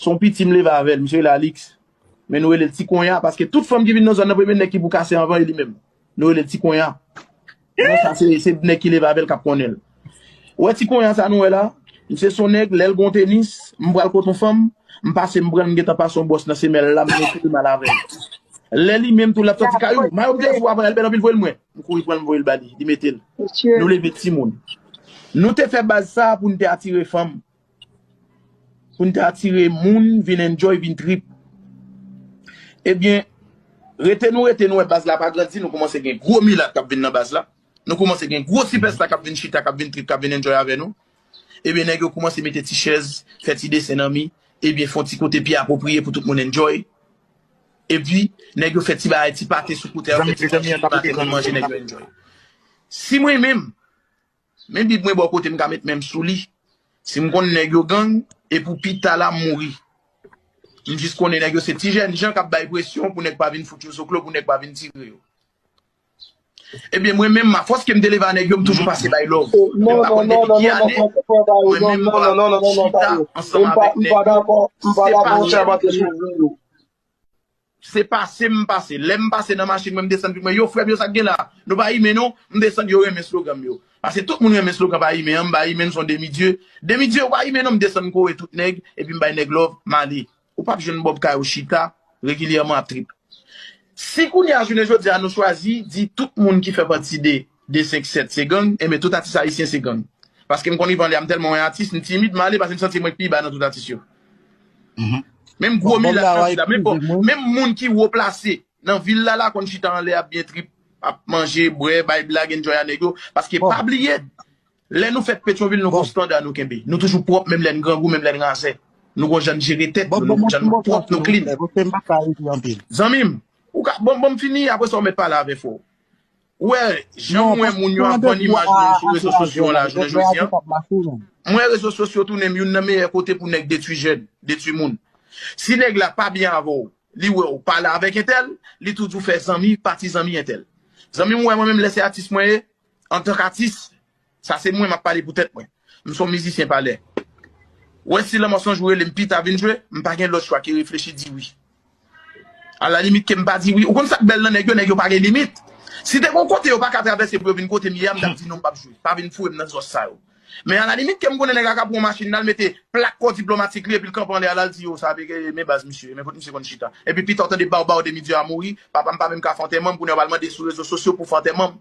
Son piti m leve avèl, misye rele Alix, men nou relel ti konya paske tout fanm ki vin nan zòn nan premye nèg ki pou kase anvan e li menm. Nou relel ti konya. Konya sa se se nèg ki leve avèl kap konnenl. Ou wè ti konya sa nou wè la, misye son nèg lèl gon tenis, m pral kot on fanm, m pase m pranl m gentan pase on bòs nan semèl la m mete li mal avèl. Lè li menm tou lap sòti kay ou, mayo m te sou a pa yal bèl anpil voyel mwen. M kouri pranl m voyel ba li, li metel. Nou leve timoun. Nou te fè baz sa poun te atire fanm, pou n te atire moun vin enjoy, vin trip. Ebyen, rete nou rete nou wè baz la pa grandi, nou koumanse gen gwo milat k ap vin nan baz la, nou koumanse gen gwo sipèsta k ap vin chita, k ap vin trip, k ap vin enjoy avè nou. Ebyen, nèg yo koumanse mete ti chèz, fè ti desen nan mi, ebyen fon ti kote pi apwopriye pou tout moun enjoy. Epi, nèg yo fè ti bagay, ti pate sou kote a, yo fè ti manje, yo fè ti manje, nèg yo enjoy. Si mwen menm, Men bib mwen bò kote m ka met men m sou li. Si m konn nèg yo gang, e pou pi ta la m mouri. M jis konnen nèg yo se ti jèn jan k ap bay presyon pou nèg pa vin fout yo zoklo, pou nèg pa vin tire yo. Ebyen mwen menm a fòs ke m te leve a nèg yo m toujou pase bay love. Menm pa konn depi ki ane mwen menm m pa chita ansanm avèk nèg yo si se pa nèg yo. Se pase m pase. Lè m pase nan machin mwen m desann pi mwen yo frè m yo sa k gen la a? Nou pa imen non. M desann yo renmen slogan m yo. Pase tout moun renmen slogan pa imen an m pa imen m s on demi dye. Demi dye ou pa imen non m desann m kore tout nèg epi m bay nèg love m ale. Ou pap jwenn Bob kay ou chita regilyèman ap trip. Si kounye a jounen jodi a nou chwazi di tout moun ki fè pati de 257 se gang enben tout atis ayisyen se gang paske m konn Yvan lè a m tèlman wè atis m timid m ale paske m santi m wè k pi ba nan tout atis yo menm gwo milat nan vil la menm bon menm moun ki wo plase nan vil la la konn chita anlè ap byen trip ap manje bwè bay blag enjoy a nèg yo paske pa bliye lè nou fèt petyonvil nou gon standa nou kenbe nou toujou pwòp menm lè n grangou menm lè n razè nou gon jan n jere tèt nou nou gon jan nou pwòp nou klin zanmi m ou ka bon bon m fini apresa w mèt pale avè fò w. Ou wè janm wè moun yo ap vann imaj moun sou rezo sosyo an la jounen jodi an? Mwen wè rezo sosyo tounen youn nan meyè kote pou nèg detwi jèn, detwi moun. Si nèg la pa byen avè w, li wè w pale avèk entèl, li tou di w fè zanmi, pati zanmi entèl. Zanmi m wè mwen menm lè se atis mwen ye, antank atis, Sa se mwen map pale pou tèt mwen. M son mizisyen pa lè. Wè si lanmò sonj ou rele m pita vin jwe, m pa gen lòt chwa ke reflechi di wi. A la limit ke m pa di wi. Ou konn sak bèl nan nèg yo, nèg yo pa gen limit. Si te gon kote yo pa ka travèse pou yo vin kote m ye a m tap di non m pap jwe. Pa vin foure m nan zòs sa yo. Men a la limit ke m konnen nèg a ka pran yon machin lal mete plak kò diplomatik li epi l kanpe anlè a lal di yo sa vle ke men baz misye, men kot misye konn chita. Epi pita w tande baw baw demi dye a mouri, papa m pa menm ka fè antèman m, kounye a w al mande sou rezo sosyo pou fè antèman m.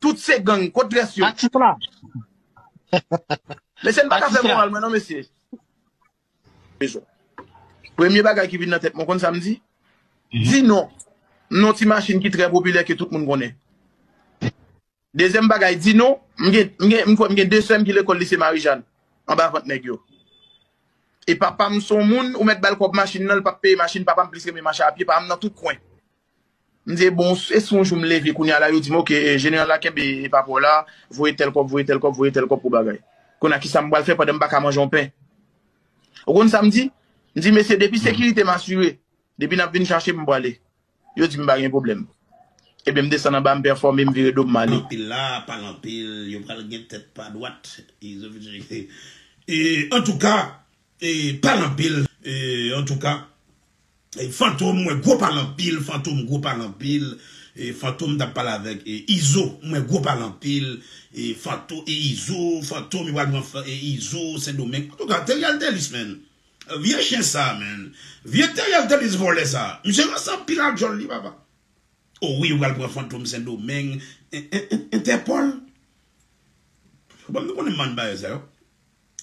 Tout se gang, kot res yo? Atik la. Mesye n pa ka fè moral mwen non mesye. Bezwen. Premye bagay ki vin nan tèt mwen ou konn sa m di? Di non. M non ti machin ki trè popilè ke tout moun konnen. Dezyèm bagay di non, m gen m gen m kwè m gen 2 sè m ki lekòl lise Marijàn anba vant nèg yo. E papa m son moun ou mèt ba l kòb machin nan l pap peye machin papa m plis renmen mache a pye pa m nan tout kwen. M di bon e si yon jou m leve kounya la yo di m ok jeneral la kenbe epa paw la voye tèl kòb voye tèl kòb voye tèl kòb pou bagay kounya kisa m pral fè pandan m paka manje yon pen ou konn sa m di m di mesye depi sekirite m asire depi nap vin chache m m prale yo di m pa gen pwoblèm ebyen m desann anba m pèfòme m vire do m m ale. Anpil la pale anpil yo pral gen tèt pa dwat antouka Pale anpil antouka fantom mwen gwo pale anpil fantom gwo pale anpil fantom tap pale avèk izo mwen gwo pale anpil fantom e izo fantom yo pral pran izo sendomeng antouka teriel telis menn vye chen sa menn vye teriel telis vòlè sa misye ranse anpil ak djòl li papa o wi yo pral pran fantom sendomeng entèpòl banm nou konnen mann bagay sa yo.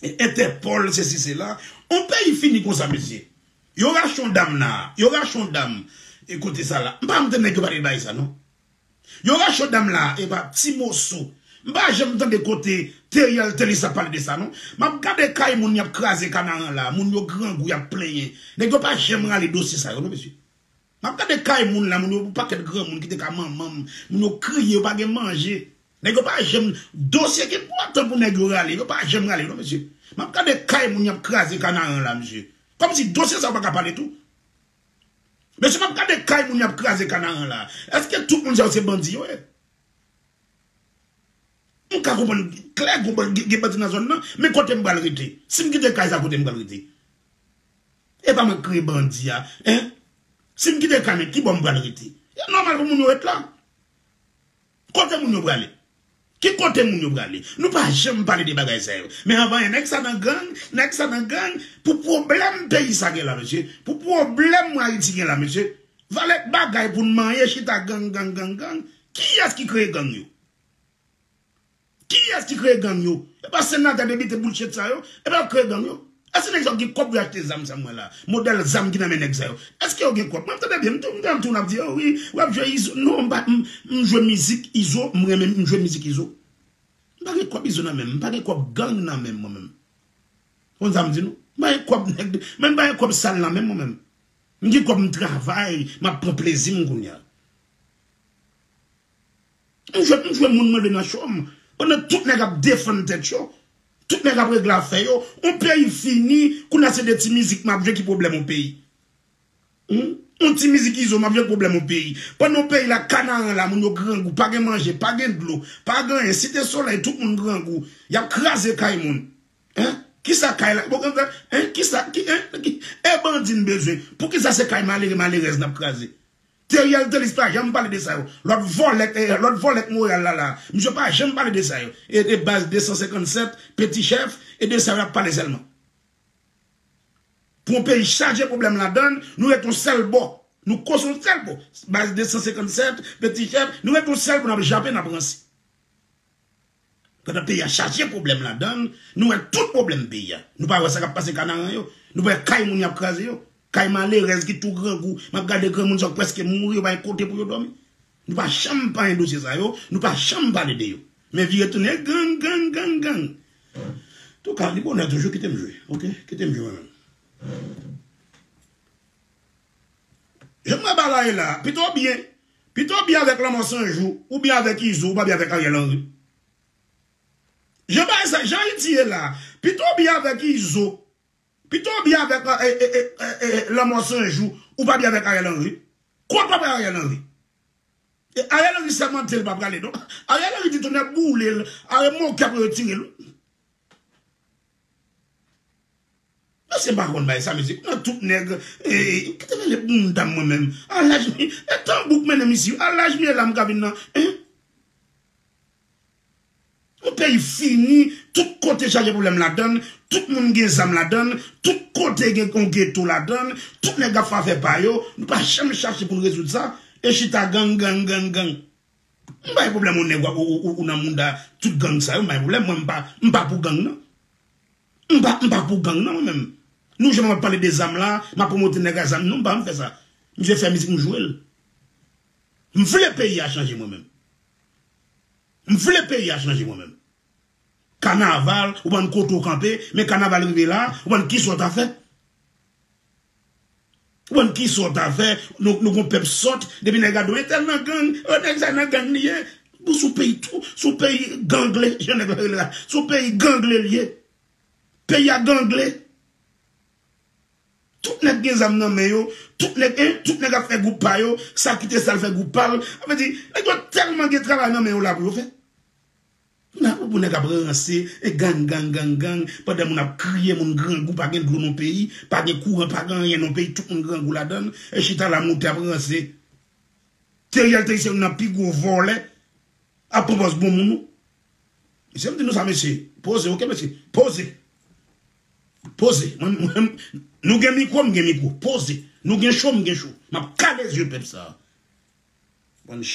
Entèpòl sesi sela On peyi fini konsa mesye Yo rache on dam la Yo rache on dam E kote sa la M pa janm tande nèg yo pale de bagay sa non Yo rache on dam la Epa ti moso M pa janm tande kote Theriel Thelus ap pale de sa non M ap gade kay moun y ap kraze kanaran la Moun yo grangou y ap plenyen Nèg yo pa janm rale dosye sa yo non mesye Map gade kay moun la moun yo pou paket granmoun kite ka manman m moun yo kriye yo pa gen manje nèg yo pa janm dosye ki enpòtan pou nèg yo rale yo pa janm rale yo non mesye map gade kay moun yap kraze kanaran la mesye kòmsi dosye sa yo paka pale tou mesye map gade kay moun yap kraze kanaran la eske tout moun sa yo se bandi yo ye m ka konprann klè gen bandi nan zòn nan men kotem pral rete sim kite kay sa kotem pral rete. Epa mwen k kreye bandi a hein. Sim kite kanèk kibò m pral rete. E nòmal pou moun yo ret la. Kote moun yo prale. Ki kote moun yo prale. Nou pa janm pale de bagay sa yo. Men anvan yon nèg sa nan gang, nèg sa nan gang. Pou pwoblèm peyi sa gen la mesye. Pou pwoblèm ayiti gen la mesye. Valèk bagay pou n manyen chita gang gang gang gang. Kiyès ki kreye gang yo. Kiyes ki kreye gang yo? E pa senate depite bullshit sa yo? E pa yo ki kreye gang yo? Eske neg sa yo gen kob pou yo achte zam sa m wè la? Model zam ki nan men neg sa yo? Eske yo gen kob? Map tande byen, m tande yon ti moun ap di oh wi, wap jwe izo, non m pa, m jwe mizik izo, m renmen, m jwe mizik izo. M pa gen kob izo nan menm, m pa gen kob gang nan menm mwen menm. Ou konn sa m di nou? M pa gen kob neg de, menm m pa gen kob sal nan menm mwen menm. M gen kob m travay, map pran plezi m kounya. M jwenn m jwenn moun mande nan show m pandan tout nèg ap defann tèt yo tout nèg ap regle afè yo on peyi fini kounya se de ti mizik map jwe ki pwoblèm on peyi humm on ti mizik izo map jwe ki pwoblèm on peyi pandan on peyi la kanaran la moun yo grangou pa gen manje pa gen dlo pa gen anyen site solèy tout moun grangou yap kraze kay moun hein kisa kay la hein kisa hein eh bandi n bezwen poukisa se kay malere malerèz nap kraze. Theriel Thelus pa janm pale de sa yo. Lòt vòlè lòt vòlè k Montréal la la. Misye pa janm pale de sa yo. E de baz 257, Petit Chef, e de sa yo y ap pale sèlman. Pou yon peyi chaje pwoblèm ladan l, nou ret yon sèl bò. Nou kò sou yon sèl bò. Baz 257, Petit Chef, nou ret yon sèl bò n ap jape n ap ranse. Pandan peyi a chaje pwoblèm ladann, nou wè tout pwoblèm peyi a. Nou pa wè sa k ap pase Kanaran yo? Nou pa wè kay moun y ap kraze yo? Kay malerèz ki tou grangou, m ap gade granmoun sa yo prèske mouri, yo pa gen kote pou yo dòmi. Nou pa janm panyen dosye sa yo, nou pa janm pale de yo. Men vire tounen gang, gang, gang, gang. Touka, li bonè toujou, kite m jwe. Ok, kite m jwe mwen menm. Jan m wè bagay la, pito byen. Pito byen avèk lanmò san jou ou byen avèk izo ou pa byen avèk ariel henry jan bagay sa jan ayiti ye la pito byen avèk izo pito byen avèk lanmò san jou ou pa byen avèk ariel henry kont papa ariel henry e ariel henry sèmante li pa prale non ariel henry di tonè boulel are moke apre yo tirel wi. Mesye m pa konn bay sa mesye nan tout nèg eeyy kite m ale pou m ta mwen menm a laj m e tanbou k mennen m isi a laj m ye la m ka vin nan en yon peyi fini tout kote chaje pwoblèm ladann tout moun gen zam ladann tout kote gen yon geto ladann tout nèg ap fè afè pa yo nou pa janm chache pou n rezoud sa e chita gang gang gang gang. M pa gen pwoblèm ou nèg ou nan mouda tout gang sa yo m pa gen pwoblèm mwen m pa pou gang nan m pa m pa pou gang nan mwen menm nou jwenn map pale de zam la map pwomote nèg a zam non m pa janm fè sa misye fè mizik m jwe l m vle peyi a chanje mwen menm m vle peyi a chanje mwen menm kanaval ou pa konn kote ou kanpe men kanaval rive la ou pa konn kisa ou ta fè. Ou konn kisa w ta fè, nou gon pèp sòt, depi nèg la di w entèl nan gang, oh nèg sa nan gang li ye, bon sou peyi tou, sou peyi gangle, jan nèg la rele la, sou peyi gangle li ye, peyi a gangle, tout nèg gen zam nan men yo, tout nèg en, tout nèg ap fè gwoup pa yo, sa kite sa l fè gwoup pa l, sa vle di nèg yo tèlman gen travay nan men yo la pou yo fè. Pou nan pou nèg ap ranse e gang gang gang gang pandan moun ap kriye moun grangou pa gen dlo nan peyi pa gen kouran pa gen anyen nan peyi tout moun grangou ladann e chita la moute ap ranse Theriel te se youn nan pi gwo vòlè ap pran pòz bon moun ou mesye m di nou sa mesye poze ok mesye poze poze nou gen mikwo m gen mikwo poze nou gen cho m gen cho map kale zye pèp sa.